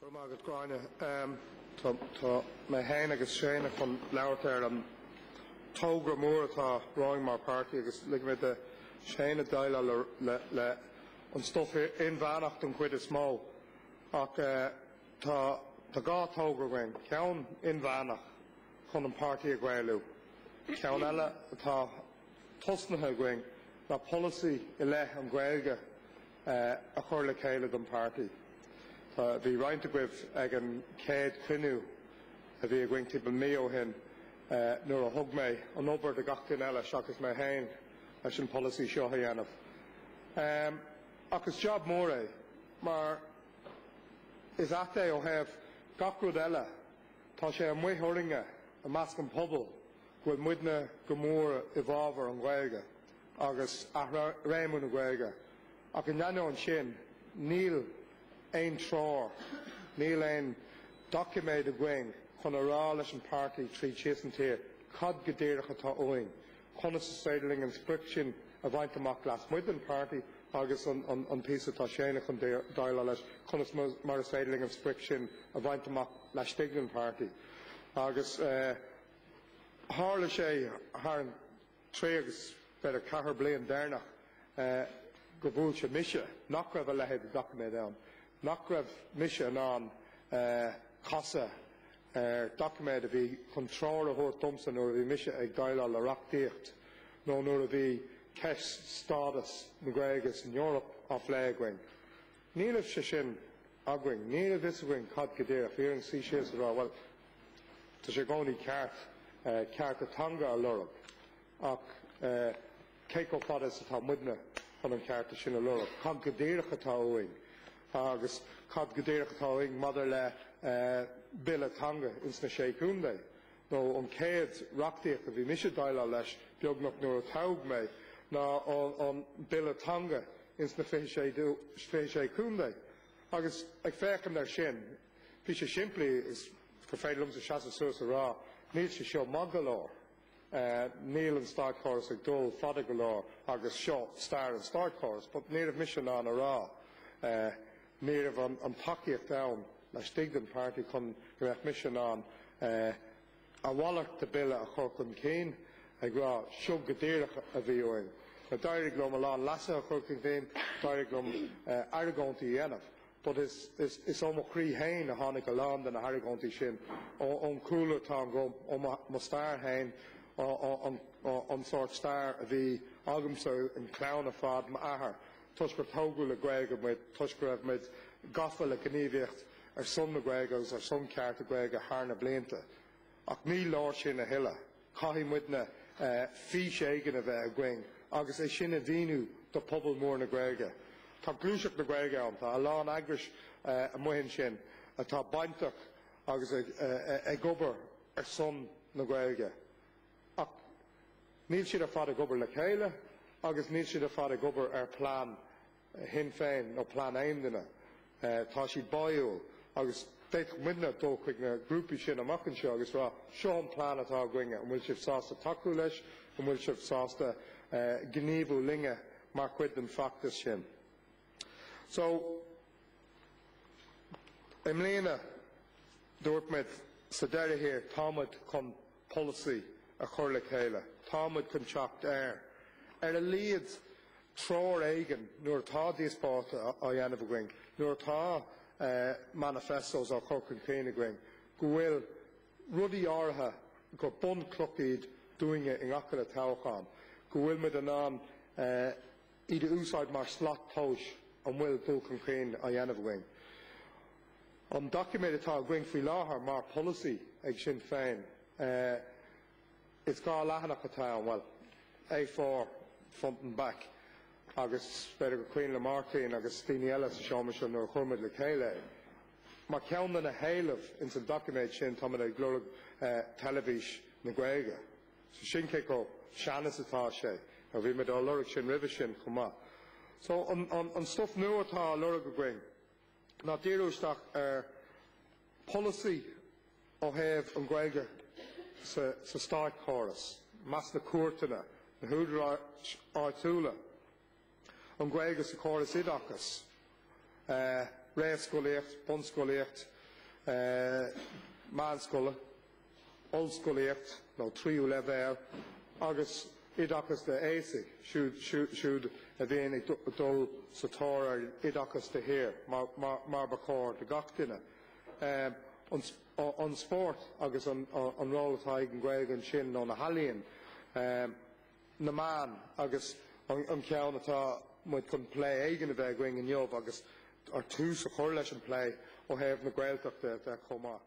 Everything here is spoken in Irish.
Go raibh maith agat Gráinne. Tá mé féin agus Séanna chun labhairt ar an togra mór atá romhainn mar páirtí agus lig mé do Séanna deighleáil le an stuif inmheánach don chuid is mó. Ach eh, tá dhá togra againn, ceann inmheánach chun an páirtí a Ghaelú, ceann eile atá tosnaithe againn ná polasaí i leith an Ghaeilge a chur le chéile don páirtí. Tá, bhí roinnt agaibh ag an chéad chruinniú a bhí againn timpeall mí ó shin nuair a thug mé an obair do gach duine eile seachas mé féin leis an polasaí seo a dhéanamh. Um, ach is jab mór é, mar is ait é ó thaobh gach rud eile, tá sé amuigh orainne i measc an pobal, bhfuil muidne go mór i bhfábhar an Ghaeilge agus athréimiú na Gaeilge ach in ainneoin sin níl aon treoir, níl aon doiciméad againn chun a rá leis an páirtí tríd síos an tír cad go díreach atá uainn, conas is féidir linn an sprioc sin a bhaint amach lasmuigh den páirtí agus an píosa atá Séanna chun déileáil leis, conas mar is féidir linn an sprioc sin a bhaint amach laistigh den páirtí agus. Tharla sé thar an trí agus b'fhéidir an ceithre bliain deireanach go bhfuil mise, nach raibh a leithéid de dhoiciméad ann, nach raibh mise in ann casadh ar dhoiciméad a bhí chun treoir a thabhairt domsa nuair a bhí mise ag déileáil le reachtaíocht nó nuair a bhí ceist stádas na Gaeilge san Eoraip á phlé againn. Níl a fhios againn, níl a fhios againn cad go díreach. Bhí orainn suí síos a rá, bhuel, Tá sé i gcónaí ceart cearta teanga a lorg, ach cé chomh fada is atá muidne chun an cearta sin a lorg? Cad go díreach atá uainn? Agus cad go díreach atá uainn maidir le bille teanga ins na Sé Chontae? Nó an chéad reachtaíocht a bhí mise ag déileáil leis, beagnach, nuair a toghadh mé, ná an bille teanga ins na 26 Chontae. Agus ag féachaint air sin, Bhí sé simplí gur féidir liomsa seasamh suas a rá, níl sé seo maith go leor, níl an státchóras ag dul fada go leor agus seo stair an státchórais. But ní raibh mise in ann a rá, ní raibh an tacaíocht ann laistigh den páirtí chun go mbeadh mise in ann a mhalairt de Bille a chur chun cinn ag rá seo go díreach a bhí uainn. Now d'éirigh liom a lán leasuithe a chur chun cinn, d'éirigh liom argóintí a dhéanamh. but is is is ó mo chroí féin a tháinig a lán de na hargóintí sin, óm chúlra atá agam, ó mo mo stair féin, an an sórt stair a bhí agamsa, an clann ar fad, m'athair, toisc gur tógadh le Gaeilge muid, toisc go raibh muid gafa le gníomhaíocht ar son na Gaeilge agus ar son cearta Gaeilge thar na blianta. Ach ní leor sin a thuilleadh. Caithfidh muidne fís éigin a bheith againn agus é sin a mhíniú do phobal mór na Gaeilge. Tá gluaiseacht na Gaeilge ann, tá a lán eagrais amuigh ansin atá bainteach agus ag obair ar son na Gaeilge, ach níl siad ar fad ag obair le chéile agus níl siad ar fad ag obair ar plean Shinn Féin nó plean aon duine. Tá siad báúil agus d'fhéadfadh muidne dul chuig na grúpaí sin amach anseo agus rá, 'Seo an plean atá againne, an bhfuil sibh sásta tacú leis, an bhfuil sibh sásta gníomhú linne mar chuid den feachtas sin? So i mbliana dúirt muid sa deireadh thiar, tá muid chun. polasaí a chur le chéile. Tá muid chun teacht ar, ar a laghad, treoir éigin nuair atá díospóireachta á dhéanamh againn, nuair atá manifestos á chur chun cinn againn, go bhfuil rudaí áirithe, gur bunchloch iad dúinne i ngach uile toghchán, go bhfuil muid in ann, iad a úsáid mar shlat tomhais an bhfuil dul chun cinn á dhéanamh againn. An doiciméad atá againn faoi láthair mar pholasaí ag Sinn Féin, is dhá leathanach atá ann, bhuel, A4 front and back, agus b'fhéidir gur cuimhin le Máirtín agus daoine eile sa seomra seo nuair a chuir muid le chéile é, mar cheann de na héilimh ins an doiciméad sin tá muid ag lorg teilifís na Gaeilge. Sin cé chomh sean is atá sé. Bhí muid á lorg sin roimhe sin chomh maith. So an stuif nua atá á lorg againn ná díriú isteach ar pholasaí ó thaobh an Ghaeilge sa státchóras, i measc na cúirteanna, na húdaráis áitiúla. An Ghaeilge sa chóras oideachais, réamhscolaíocht, bunscolaíocht, meánscoil, ollscolaíocht nó tríú leibhéal, agus oideachas d'aosaigh, siúd a bhíonn ag dul sa tóir ar oideachas de shíor, mar ba chóir do gach duine. An spórt agus an ról atá ag an Ghaeilge ansin, nó na healaíona. na meáin agus an ceann atá muid chun plé éigin a bheith againn inniu agus tús a chur leis an plé ó thaobh na Gaeltachta de chomh maith.